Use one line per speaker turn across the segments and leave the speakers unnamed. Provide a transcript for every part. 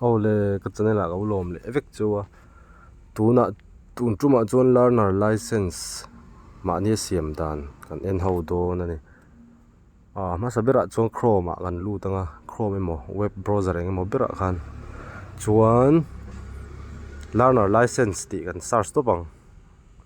Aw le ka channel ah ka u lawm leh vek chu a tunah tun tumah chuan learner license mahni a siam dan kan en ho dawn a ni ah hmasa berah chuan chrome ah kan lut ang a chrome emaw web browser eng emaw berah khan chuan learner license tih kan search tawp ang.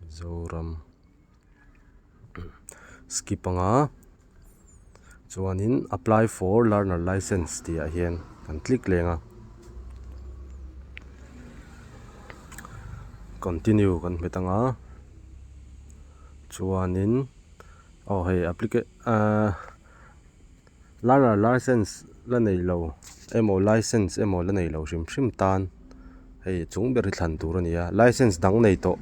Mizoram skip a nga chuanin apply for learner licence tih ah hian kan click leng a continue kan hmet ang a chuanin aw hei applica ah-- Learner License la nei lo emaw License emaw la nei lo hrim hrim tan hei chung ber hi thlan tur a ni a, License dang nei tawh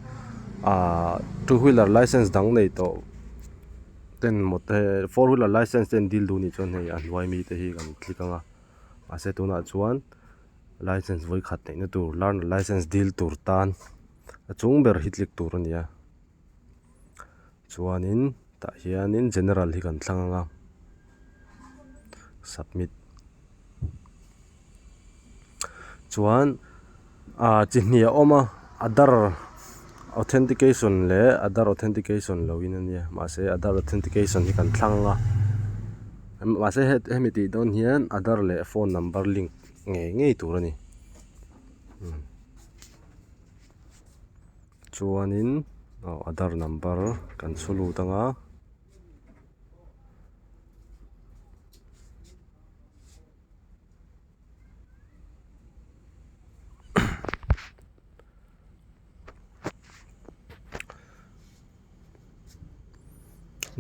ah Two Wheeler License dang nei tawh ten Four Wheeler License ten dil duh nih chuan hei a hnuai mi te hi kan click ang a, mahse tunah chuan License vawi khat neihna tur Learner License dil tur tan a chung ber hi click tur a ni a. Chuanin tah hianin general hi kan thlang anga submit chuan ah chi hnih a awm a adar authentication leh adar authentication lo in a nia mahse adar authentication hi kan thlang anga mahse hemi tih dawn hian adar leh phone number link ngei ngei tur a ni. Chuanin adhar number kan chhu lut anga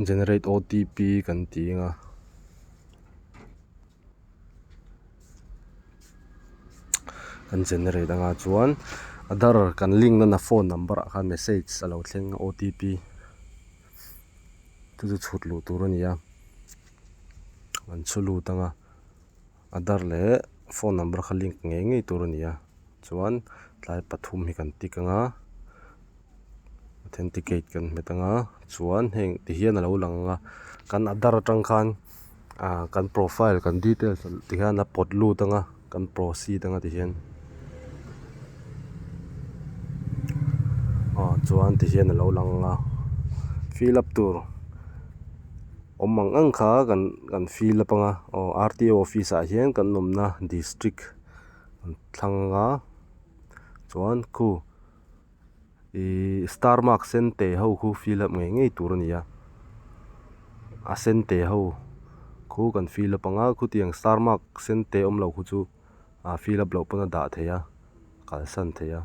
generate OTP kan ti anga. kan generate anga chuan adar kan link nana phone number ah khan message alo thleng otp te chu chhut luh tur a nia kan chhu lut anga adar leh phone number kha link ngei ngei tur a nia. chuan tlai pathum hi kan tik anga authenticate kan hmet anga chuan heng tihian alo lang anga kan adhar atang khan ah kan profile kan details ti hian a pawt lut anga kan proceed anga tihian ah chuan tihian alo lang anga fill up tur awm ang ang kha kan fill up anga aw R T O office ah hian kan awmna district . an thlang a chuan khu ihh star mark sen teh ho khu fill up ngei ngei tur a ni a a sen teh ho khu kan fill up anga khutiang star mark sen teh awm lo khu chu a fill up loh pawn a dah theih a kalsan theih a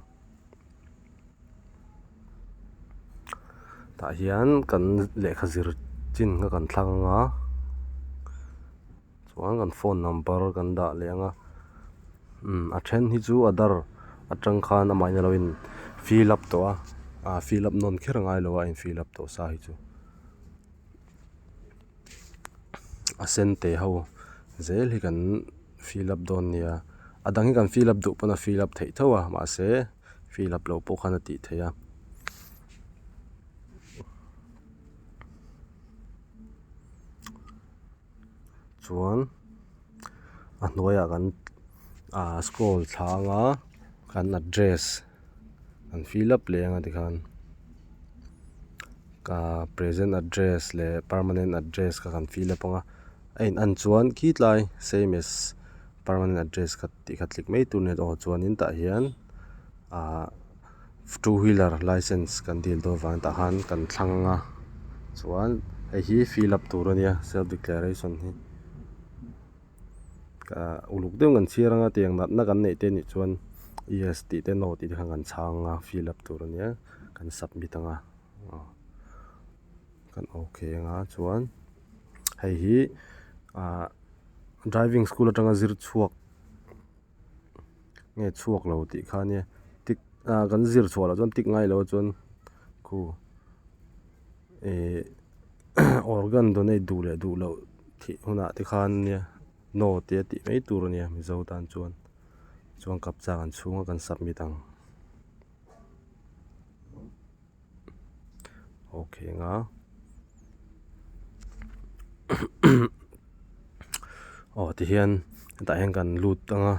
tah hian kan lehkha zir chin kha kan thlang anga. Chuan kan phone number kan dah leh ang a, umm a then hi chu aadhar atang khan amahni alo in fill up tawh a, aa fill up nawn kher ngai lo a in fill up tawh sa hi chu a sen teh ho zel hi kan fill up dawn nia, a dang hi kan fill up duh pawn a fill up theih tho a mahse fill up loh pawh khan a tih theih a. chuan a hnuaiah kan ah scroll thla ang a kan address kan fill up leh ang a tikhan ah present address leh permanent address kha kan fill up ang a a in an chuan khit lai same as permanent address kha tih ka tlik mai tur a ni a aw chuan in tah hian ah-- two wheeler licence kan dil dawn vang tah khan kan thlang ang a chuan hei hi fill up tur a nia self declaration hi ah uluk deuhin kan chhiar ang a tiang natna kan neih te nih chuan yes tih te no tih te khan kan chhang ang a fill up tur a nia kan submit ang a ah kan ok ang a chuan hei hi ah driving school atanga zir chhuak-- nge chhuak lo tih kha nia tik ah kan zir chhuah loh chuan tik ngai loh a chuan khu ihh organ donate duh leh duh loh thih hunah te khan nia no tia tih mai tur a nia mizo tan chuan chuan kap chak an chhung a kan submit ang. ok anga aw tihian hetah hian kan lut anga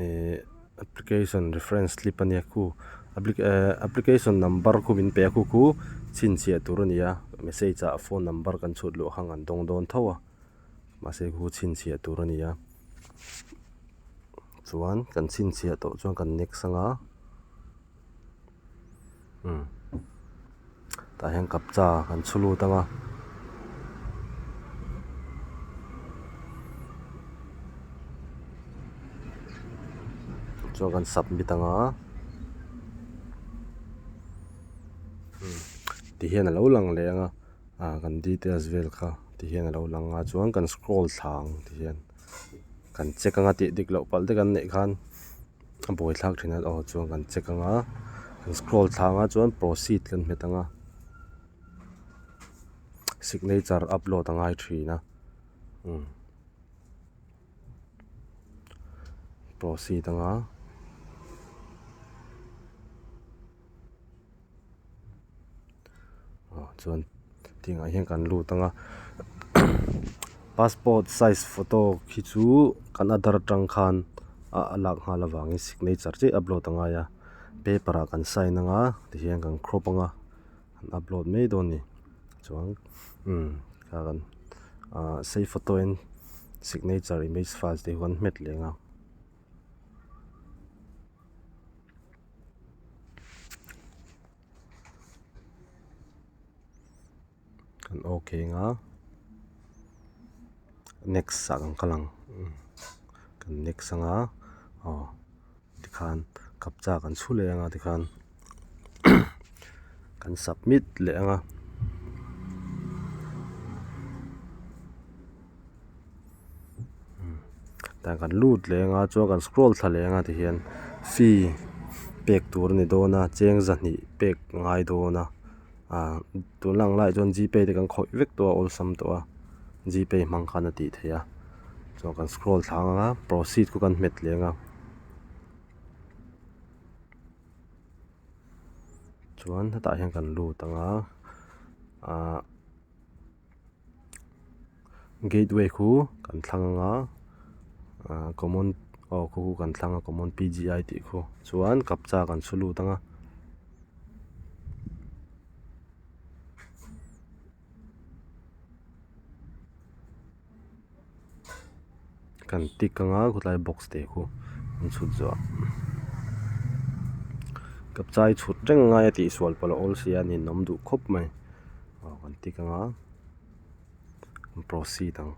ihh application reference slip a nia khu application number khu min pe a khu khu chhinchhiah tur a nia message ah phone number kan chhut luh khan an dawng dawn tho a mahse khu chhinchhiah tur a nia chuan kan chhinchhiah tawh chuan kan next anga. Tah hian kapcha kan chhu lut ang a. Chuan kan submit ang a. Ti hian a lo lang leh ang a, kan details vel kha ti hian a lo lang a. Chuan kan scroll thla ang ti hian kan check ang a, tih dik loh palh te kan neih khan. A bawi thlak thin a aw chuan kan check anga kan scroll thlâng a chuan proceed kan hmet anga signature upload a ngai thin a umm proceed anga. ah chuan tingah hian kan lut anga passport size photo khi chu kan adar ṭang khan a lak nghal avangin signature chiah upload a ngai a paper ah kan sign anga tihian kan crop anga an upload mai dawn a ni chuan umm hei kan ah save photo in signature image file te hi kan hmet leh ang a. Kan ok anga next ah kan kal ang kan next anga aw tikhan kapcha kan chhu leh anga tikhan kan submit leh anga. tah kan lut leng a chuan kan scroll thla leng a ti hian fee pek tur a ni dawn a cheng zahnih pek ngai dawn a ah tun a lang laiah chuan g pay te kan khawih vek tawh a awlsam tawh a g pay hmang khan a tih theih a chuan kan scroll thla ang ang a proceed kawh kan hmet leng a chuan hetah hian kan lut ang a ah-- gate way khu kan thlang anga ahh common aw khu chu kan thlang a common P G I tih khaw chuan kapcha kan saw lut anga kan tik ka ngai khawtlai box te khu an chhut zuah ka chai chhut reng ngai a tih sual pawh la awl sia a ni nawm duh khawp mai aw kan tik anga kan proceed ang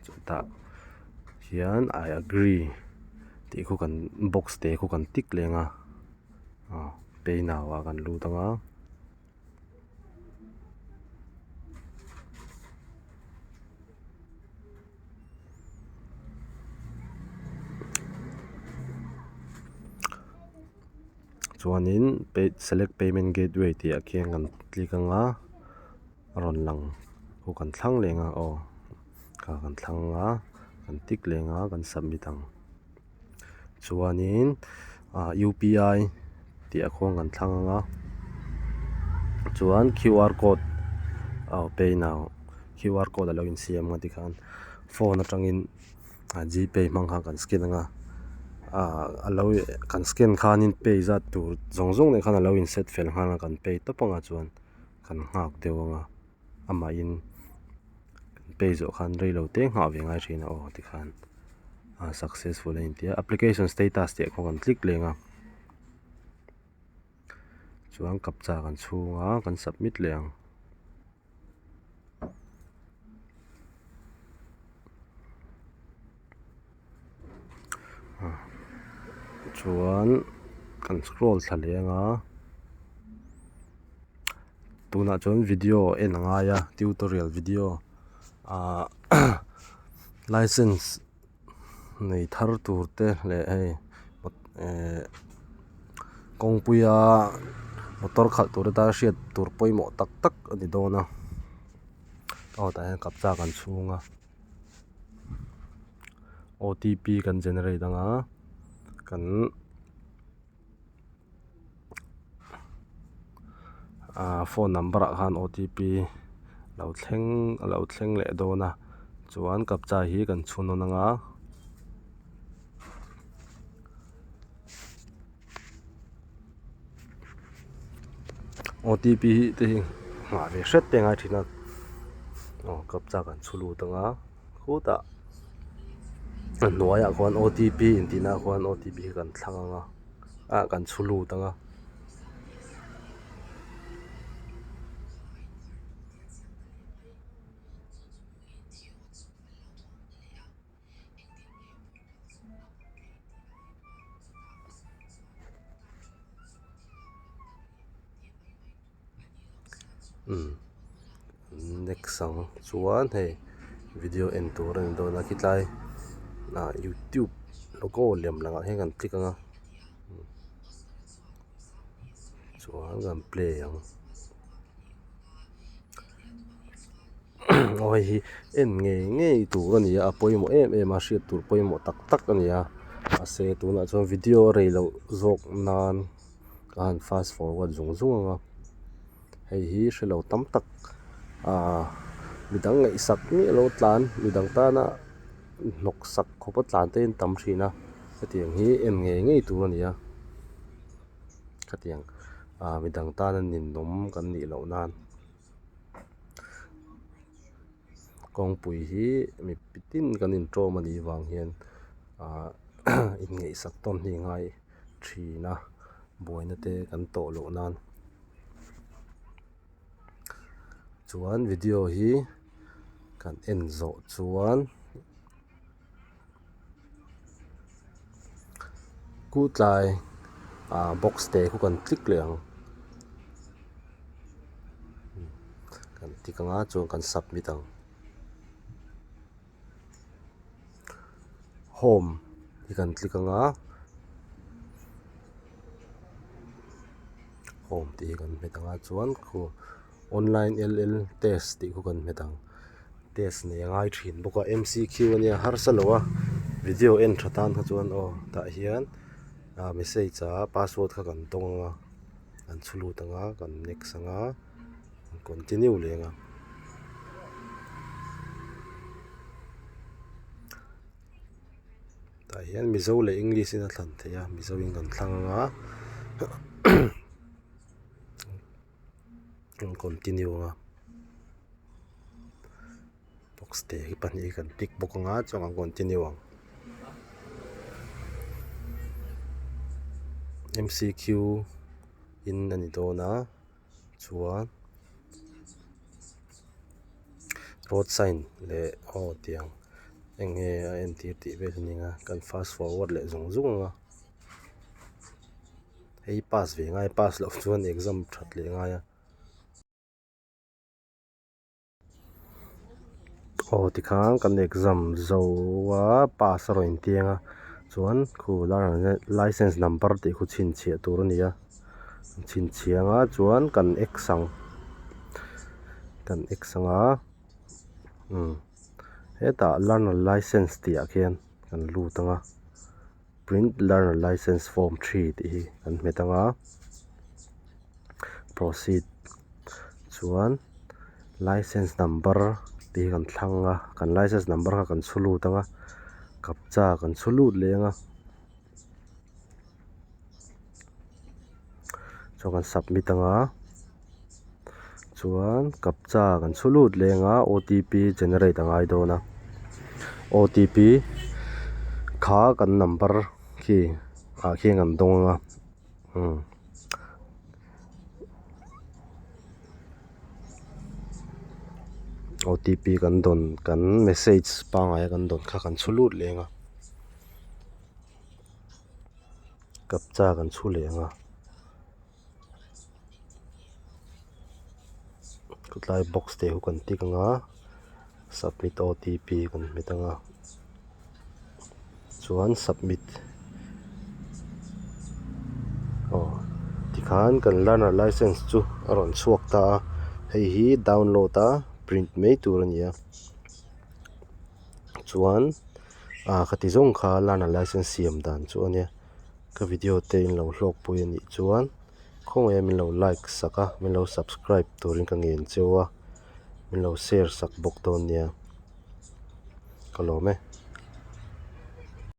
chutah hian I agree tih khu kan box te khu kan tik leng a aw paynao ah kan lut anga. chuanin pay select payment gateway tih ah khian kan click ang a a rawn lang aw kan thlang leh ang a aw kan thlang a kan tik leh ang a kan submit ang. chuanin ah U P I tih a khuang kan thlang anga chuan Q R code aw pay now Q R code a lo in siam ngati khan phone atangin ah G pay hmang khan kan scan anga ah a lo kan scan khanin pay zat tur zawng zawng leh khan a lo inset fel nghal a kan pay tawp anga chuan kan nghak deuh anga. amahin kan pay zawh khan rei lo teng nghah ve ngai thin a aw tikhan ah successful a intia application status tih khaw kan click leng a chuan captcha kan chhung a kan submit leh ang chuan kan scroll thla leng a tunah chuan video a en a ngai a tutorial video ah licence nei thar tur te leh hei ehh kawngpui a motor khalh tur te tan hriat tur pawimawh tak tak a ni dawn a aw tah hian kapchak an chhung a. OTP kan generate ang a kan ah phone number ah khan OTP lo thleng a lo thleng leh dawn a chuan captcha hi kan chhun rawn ang a. otp hi te hi nghah ve hret te a ngai thin a aw kapchak an chhu lut ang a khutah a hnuaiah khuan otp intihna khuan otp hi kan thlang ang a ah kan chhu lut ang a. next ang chuan hei video en tur a ni dawn a khitlai ah youtube logo lem lang ah hian kan click anga chuan kan play ang. aw hei hi en ngei ngei tur a ni a a pawimawh em em a a hriat tur pawimawh tak tak a ni a mahse tunah chuan video a rei loh zawk nan ka han fast forward zung zung ang a hei hi hre lo tam tak ahh midang ngaihsak miah lo tlan midang tana hnawk sak khawpa tlan te an tam thin a hetiang hi en ngei ngei tur a ni a. khatiang ah midang tana ninawm kan nih loh nan kawngpui hi mi pitin kan in tawm anih vang hian ah in ngaih sak tawn hnih ngai thin a buaina te kan tawh loh nan chuan video hi kan en zawh chuan-- Ku tlai ah box te ku kan tlik leh ang kan tik anga chuan kan submit ang home hi kan tlik anga home tih hi kan hmet anga chuan-- online ll test tih khaw kan hmet ang test nei a ngai thin bawk a m c q a nia harsa lo a video en tha tan kha chuan aw tah hian ah message a password kha kan tawng anga kan chhu lut anga kan next anga kan continue leh anga tah hian mizo leh english in a thlan theih a mizo in kan thlang anga. an continue ang a box te hi pahnih hi kan tick bawk ang a chuan an continue ang M_C_Q in a ni dawn a chuan road sign leh aw tiang eng nge a entir tih vel hi a ni ang a kan fast forward leh zawng zawng ang a. Hei pass ve ngai pass loh chuan exam that leh ngai a aw tikhan kan exam zo a pass a raw in tiang a chuan khu licence number tih khu chhin chhiah tur a ni a an chhin chhia nga chuan kan exang kan exang a umm hetah learner licence tih ah khian kan lut ang a. print learner licence form three tih hi kan hmu thang a proceed chuan licence number tih hi kan thlang a kan licence number kha kan chhu lut ang a kapcha kan chhu lut leh ang a chuan kan submit ang a. Chuan captcha kan chhu lut leng a otp generate a ngai dawn a otp kha kan number khi ah khian kan dawng ang a umm otp kan dawn kan message pangai a kan dawn kha kan chhu lut leng a captcha kan chhu leh ang a. Tlai box tehu kan tik anga submit OTP kan hmet anga chuan submit aw tikhan kan learner licence chu a rawn chhuak ta a hei hi download a print mai tur a ni a chuan ah khati zawng kha learner licence siam dan chu a nia. Ka video te in lo hlawk pawhin a nih chuan khawngaiah min lo like sak a min lo subscribe turin ka ngen cheu a min lo share sak bawk dawn nia ka lawm e.